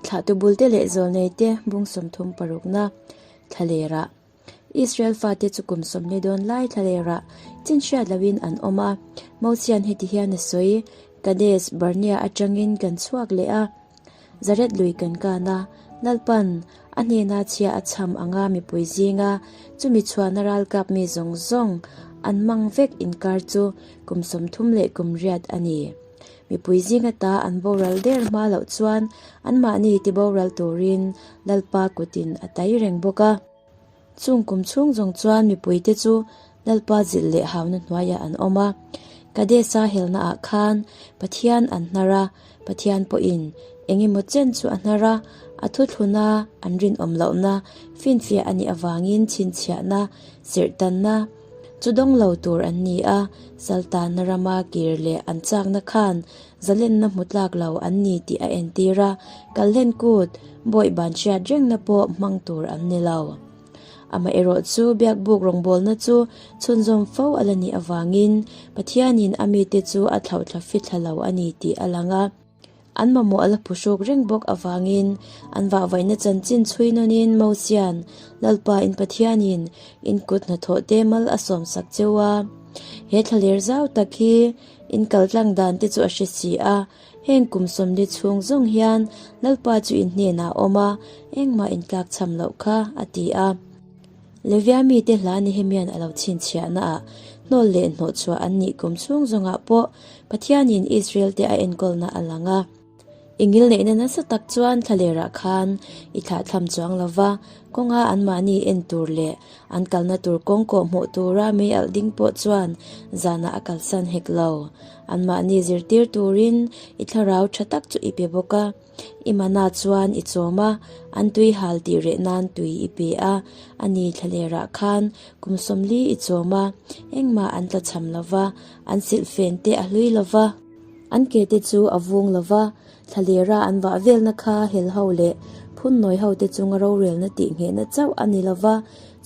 Thla tubulte leh zawlneite bung sawmthum parukna thlalêrah, Israel fate chu kum sawmhni dawn lai thlalêrah chin hriat loin an awm a. Mosia'n heti hian a sawi, Kades Barnea aṭangin kan chhuak leh a, Zaret lui kan kân a, Lalpan a hnêna chhia a chhâm ang a mipui zînga chumi chhuahna râlkâpmi zawng zawng an mang vek inkâr chu kum sawmthum leh kum riat a ni. Mipui zinga ta an boral der hma loh chuan anmahni ti boral turin Lalpa kutin a tai reng bawk a. Chung kum chhung zawng chuan mipuite chu Lalpa zilh leh hauna hnuaiah an awm a. Kadesa helnaah khan Pathian an hnar a, Pathian pawhin eng emaw chen chu a hnar a, a thuthluna, an rinawm lohna, finfiah a nih avangin chhinchhiahna, serhtanna, Chu dawng lo tur an ni a, Saltanna rama kir leh an chakna khan zalenna hmu tlak lo an ni tih a entir a, kalhlen kut bawih ban hriat rengna pawh hmang tur an ni lo. Amaherawh chu biakbuk rawngbawlna chu chhunzawm fo a la nih avangin Pathianin a mite chu a thlauhthla fithla lo a ni tih a lang a. An mamawh a la phu hruk reng bawk avangin an vahvaihna chanchin chhui nawnin Mosia'n, Lalpa in Pathianin in kut hnathawh te mal a sawm sak cheu a, he thla ler zau tak hi in kal tlang dan te chu a hre si a, heng kum sawmli chhung zawng hian Lalpa chu in hnenah awm a, engmah in tlak chham loh kha, a ti a. Levia mite hla Nehemia'n a lo chhinchhiahnaah hnawl leh hnawhchhuah an nih kum chhung zawngah pawh Pathianin Israelte a enkawlna a lang a. I ngil neihna nasa tak chuan thlalerah khan i thlahthlam chuang lo va, kawnga anmahni en tur leh an kalna tur kawng kawh hmuh tura mei alh ding pawh chuan zanah a kalsan hek lo. Anmahni zirtir turin i thlarau tha tak chu i pe bawk a. I manah chuan i chawm a, an tuihal tih reh nan tui i pe a, ani thlalerah khan kum sawmli i chawm a, engmah an tla chham lo va, an silh fen te a hlui lo va, an ke te chu a vung lo va, thlalera an vah velna kha hel ho leh phun nawi ho te chunga rorelna tih nghehna chauh a ni lo va,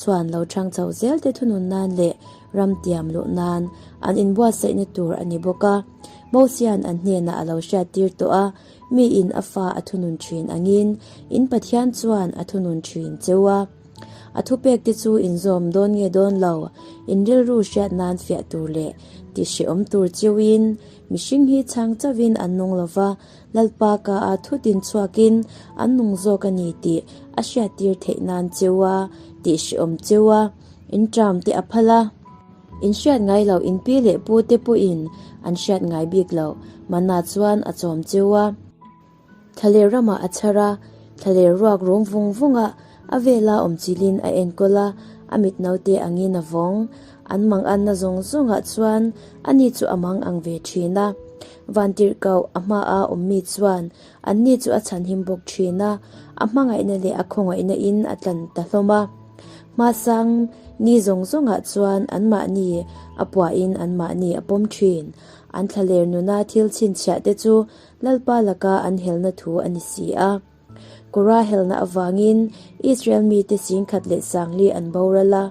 chuan lo chhang chho zel te thunun nan leh ram tiam luh nan an inbuatsaihna tur a ni bawk a, Mosian an hnenah a lo hriattir tawh a. Mi in a fa a thunun thin angin, in Pathian chuan a thunun thin cheu a. A thupek te chu inzawm dawn nge dawn lo, inrilru hriat nan fiah tur leh tihhrehawm tur cheuhin mihring hi chhang chauhin an nung lo va, Lalpa ka a thu tin chhuakin an nung zawk a ni tih a hriattir theih nan cheu a, tihhrehawm cheu a inṭam te a phal a. In hriat ngai lo, in pi leh pu te pawhin an hriat ngai bik lo. Manna chuan a chawm cheu a. Thla leh ramah a chhar a, thla leh ruak rum vung vungah a vela awm chilhin a enkawl a, a mit naute angin a vawng. An mang anna zawng zawngah chuan ani chu a mang ang ve thin a. Vantirhkoh a hmaah awmmi chuan Anni chu a chhanhim bawk thin a, a hmangaihna leh a khawngawihna in a tlan ta hlawm a. Hmasang ni zawng zawngah chuan anmahni a puah in anmahni a pawm thin. An thla ler nuna thil chhinchhiah te chu Lalpa laka an helna thu a ni si a. Kora helna avangin Israel mite sing khat leh sangli an boral a,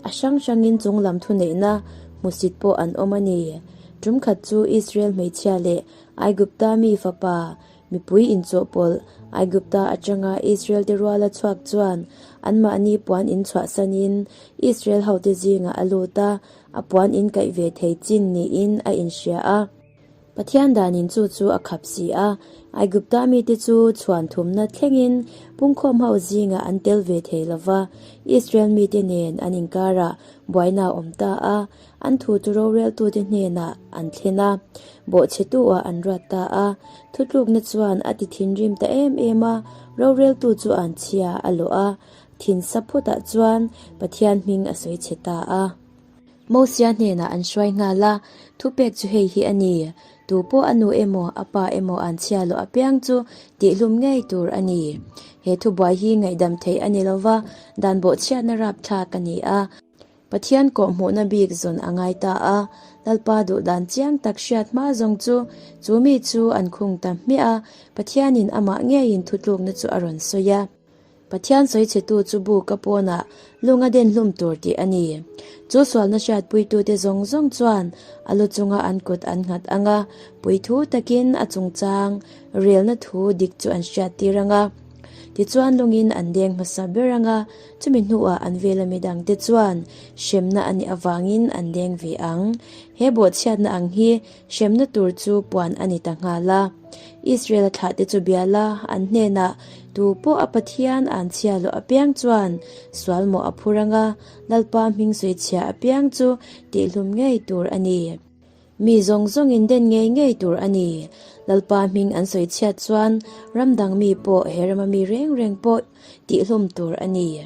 a hrang hrangin chunglam thuneihna hmusit pawh an awm a ni. Tumkhat chu Israel hmeichhia leh Aigupta mi fapa mipui inchawh pawlh Aigupta atanga Israelte ruala chhuak chuan anmahni puan in chhuahsan in Israel hote zingah a lut a, a puan in kaih ve thei chin niin a inhria a. Pathian danin chu chu a khap si a, Aigupta mite chu chhuan thumna thlengin pungkhawm ho zingah an tel ve thei lova, Israel mite nen an inkar a buaina awm ta a, An thu chu roreltute hnenah an thlen a, bawhchhetuah an ruat ta a. Thutlukna chuan a ti thinrim ta em em a, roreltu chu an chhia a lawh a, thinsa phawtah chuan Pathian hming a sawi chhe ta a. Mosia hnenah an hruai nghal a, thupek chu hei hi a ni, Tu pawh a nu emaw, a pa emaw an chhia lawh apiang chu tihhlum ngei tur a ni. He thubuai hi ngaihdam theih a ni lova, dan bawhchhiatna rapthlak a ni a. Pathian kawhhmuhna bik zawn a ngai ta a, Lalpa duh dan chiang tak hriat hma zawng chu chu mi chu an khung ta hmiah a, Pathianin amah ngeiin thutlukna chu a rawn sawi a. Pathian sawichhetu chu buk a pawnah lung a den hlum tur tih a ni. Chu sualna hriatpuitute zawng zawng chuan a lu chunga an kut an nghat ang a, puithu takin a chungchang relna thu dik chu an hriattir ang a, tichuan lungin an deng hmasa ber ang a, Chumi hnuah an vela mi dangte chuan hremna a nih avangin an leng ve ang. He bawhchhiatna ang hi hremna tur chu puan a ni ta nghal a. Israel thlahte chu biala an hnenah tu pawh a Pathian an chhia lawh apiang chuan sualmawh a phur anga Lalpa hming sawichhia apiang chu tihhlum ngei tur a ni. Mi zawng zawngin den ngei ngei tur a ni. Lalpa hming an sawi chhiat chuan ram dang mi pawh he rama mi reng reng pawh tih hlum tur a ni.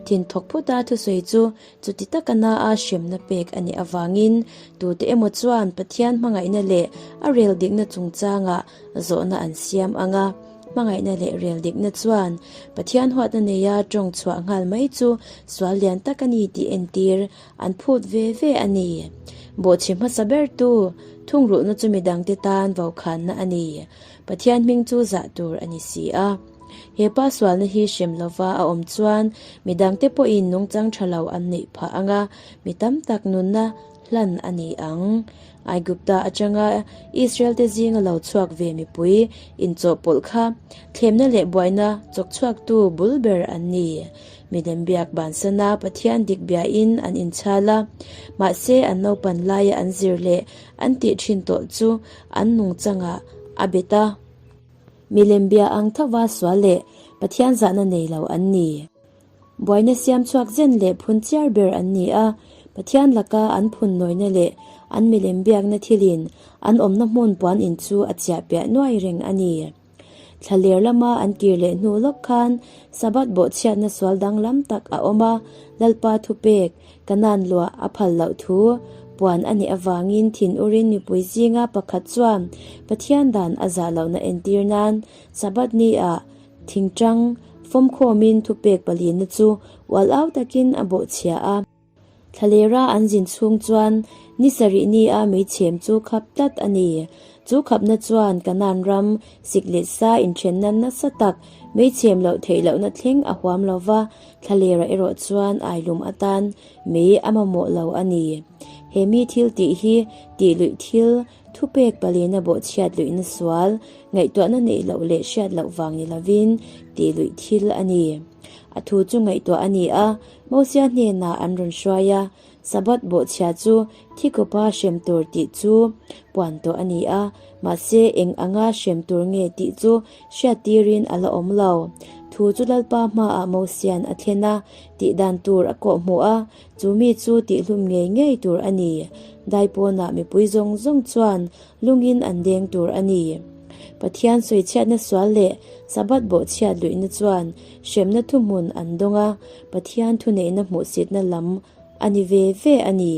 Thin thawk phuta thusawi chu chuti taka na a hremna pek a nih avangin tute emaw chuan Pathian hmangaihna leh a rel dikna chungchanga zawhna an siam ang a. Hmangaihna leh rel dikna chuan Pathian huatna neia tawng chhuah nghal mai chu sual lian tak a ni tih entir An phut ve ve a ni. Bawhchhi hmasa ber tu thungrulhna chu midang te tan vaukhânna a ni. Pathian hming chu zah tur a ni si a. He pa sualna hi hrim lova a awm chuan midang te pawhin nungchang tha lo an neih phah ang a, mi tam tak nunna hlan a ni ang. Aigupta aṭanga Israel te zinga lo chhuak ve mipui inchawhpawlh kha thlemna leh buaina chawk chhuaktu bul ber an ni. Midang biak bansana Pathian dik biain an inchhal a, mahse an naupan laia an zir leh an tih thin tawh chu an nung changah a bet a. Milem bia ang thova sual leh Pathian zahna nei lo an ni. Buaina siam chhuak zen leh phun chiar ber an ni a. Pathian laka an phun nawina leh an milem biakna thilin an awmna hmun puan in chu a chiah piah nuai reng a ni. Thla ler lama an tir leh hnu lawk khan Sabbath bawhchhiatna sual danglam tak a awm a, Lalpa thupek, ka nan lua a phal loh thu puan a nih avangin thin urin mipui zinga pakhat chuan Pathian dan a zah lohna entir nan Sabbath ni ah thingtang fawmkhawmin thupek palina chu ual au takin a bawhchhia a. Thlelera an zin chhung chuan ni sarihni a mei chhem chu khap tlat a ni. Chu khapna chuan Kanan ram sik leh sa inthenna nasa tak, mei chhem loh theih lohna thleng a huam lo va, thlalera erawh chuan ailum atan mei a mamawh lo a ni. He mi thil tih hi tihluih thil Thupek pali na bawh chhiat luih na sual, ngaihtuah na neih loh leh hriat loh vang ni lovin tih luih thil a ni. A thu chu ngaihtuah a ni a, Mosia hnenah an rawn hruai a, Sabbath bawh chhiat chu thi kawpa hrem tur tih chu puan tawh a ni a, mahse eng anga hrem tur nge tih chu hriat tirin a la awm lo. Thu chu Lalpa hmaah Mosian a thlen a tih dan tur a kawhhmuh a, Chu mi chu tihhlum ngei ngei tur a ni. Daipawnah mipui zawng zawng chuan lungin an deng tur a ni. Pathian sawi chhiatna sual leh Sabbath bawh chhiat luihna chuan hremna thu hmun an dawng a, Pathian thuneihna hmuhsitna lam a ni ve ve a ni.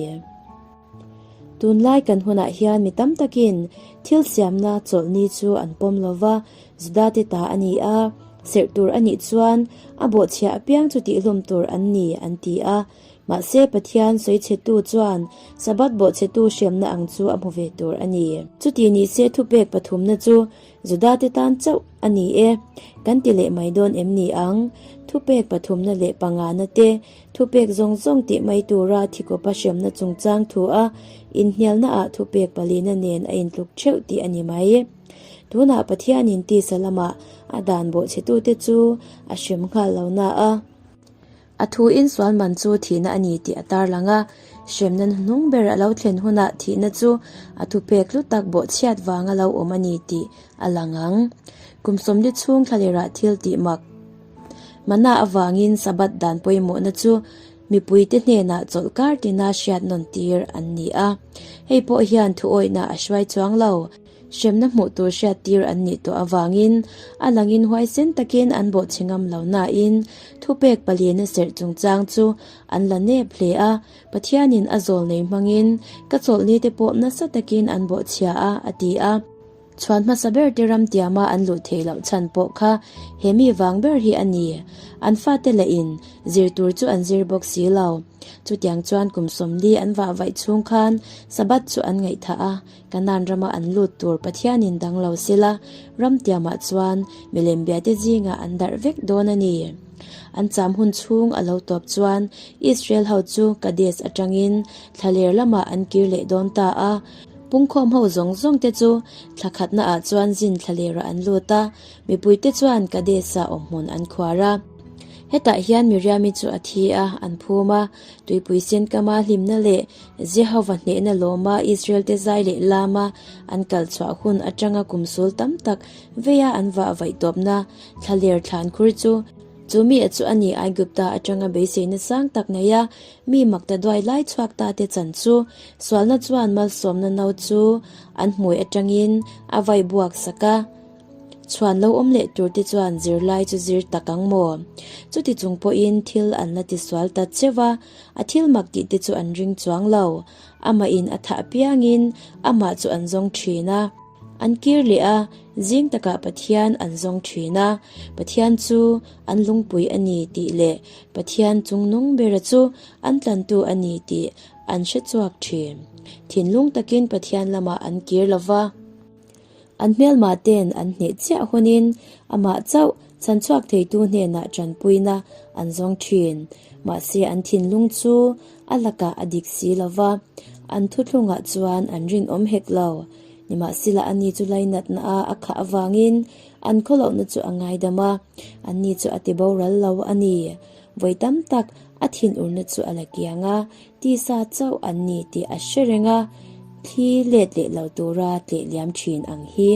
Tunlai kan hunah hian mi tam takin thil siamna chawlhni chu an pawm lo va, Juda te ta a ni a, serh tur a nih chuan a bawhchhiah apiang chu tihhlawm tur an ni an ti a. Mahse, Pathian sawichhetu chuan Sabbath bawhchhetu hriamna ang chu a hmu ve tur a ni. Chuti ni se thupek pathumna chu Juda te tan chauh a ni e, kan ti leh mai dawn em ni ang? Thupek pathumna leh pangahna te, thupek zawng zawng tih mai tura thikopa hriamna chungchang thu a inhnialnaah thupek palina nen a intluk theuh tih a ni mai. Tunah Pathianin tisa lamah a dan bawhchhetute chu a hrem nghal lo na a, a thu insualman chu thihna a ni tih a tarlang a. Hrem nan hnung ber a lo thlen hunah thihna chu a thupek hlu tak bawhchhiat vang a lo awm a ni tih a lang ang. Kum sawmli chhung thla lerah thil tih mak manah avangin Sabbath dan pawimawhna chu mipuite hnenah chawlh kar tina hriatnawn tir an ni a, hei pawh hian thuawihna a hruai chuang lo. hremna hmuh tur hriat tir an nih tawh avangin a lang in huai sen takin an bawh chhi ngam lo nain thupek pali na serh chungchang chu an la nep hle a, Pathianin a zawl nei hmangin ka chawlhni te pawh nasa takin an bawh chhia a, a ti a. Chhuan hmasa ber te ram tiama an luh thei loh chhan pawh kha he mi vang ber hi a ni. An fate leh in zir tur chu an zir bawk si lo. Chutiang chuan kum sawmli an vah vaih chhung khan Sabbath chu an ngaihthah a, Canaan rama an lut tur Pathianin dang lo sela, ramtiamah chuan milem biate zingah an darh vek dawn a ni. An cham hun chhung a lo tawp chuan Israel ho chu Kades atangin thla ler lamah an kir leh dawn ta a, pungkhawm ho zawng zawng te chu thla khatna ah chuan zin thla lerah an lut a, mipui te chuan Kades-a awm hmun an khuar a. Hetah hian Miriami chu a thi a, an phum a. Tuipui Senkama hlimna leh Jehova hnehna lawma Israelte zai leh lama an kal chhuah hun atanga kum sawl tam tak veia an vah vaih tawpna thla ler thlan khur chu chu mi ah chu a ni. Aigupta atanga beiseina sang tak neia mi makta duai lai chhuak ta te chan chu sualna chuan malsawmna no chu an hmuai atangin a vai buak sak a. Chhuan lo awm leh tur te chuan zirlai chu zir tak ang maw? Chuti chung pawhin thil an la tisual ta che va, a thil mak tih te chu an ring chuang lo. Amah in a thah piang in amah chu an zawng thin a, an kir leh a, zing takah Pathian an zawng thin a, Pathian chu an lungpui a ni tih leh Pathian chung nung bera chu an tlantu a ni tih an hre chhuak thin. Thinlung takin Pathian lamah an kir lo va. An hmelma ten an hneh chiah hunin amah chauh chhanchhuak theitu hnenah tanpuina an zawng thin. Mahse an thinlung chu a lakah a dik si lo va, an thuthlungah chuan an rinawm hek lo. Nimahsela ani chu lainatna a a khah avangin an khawlohna chu a ngaidam a, anni chu a ti boral lo a ni. Vawi tam tak a thin urna chu a la kiang a, Tisa chauh an ni tih a hre reng a, thli let leh lo tura tlehliam thin ang hi.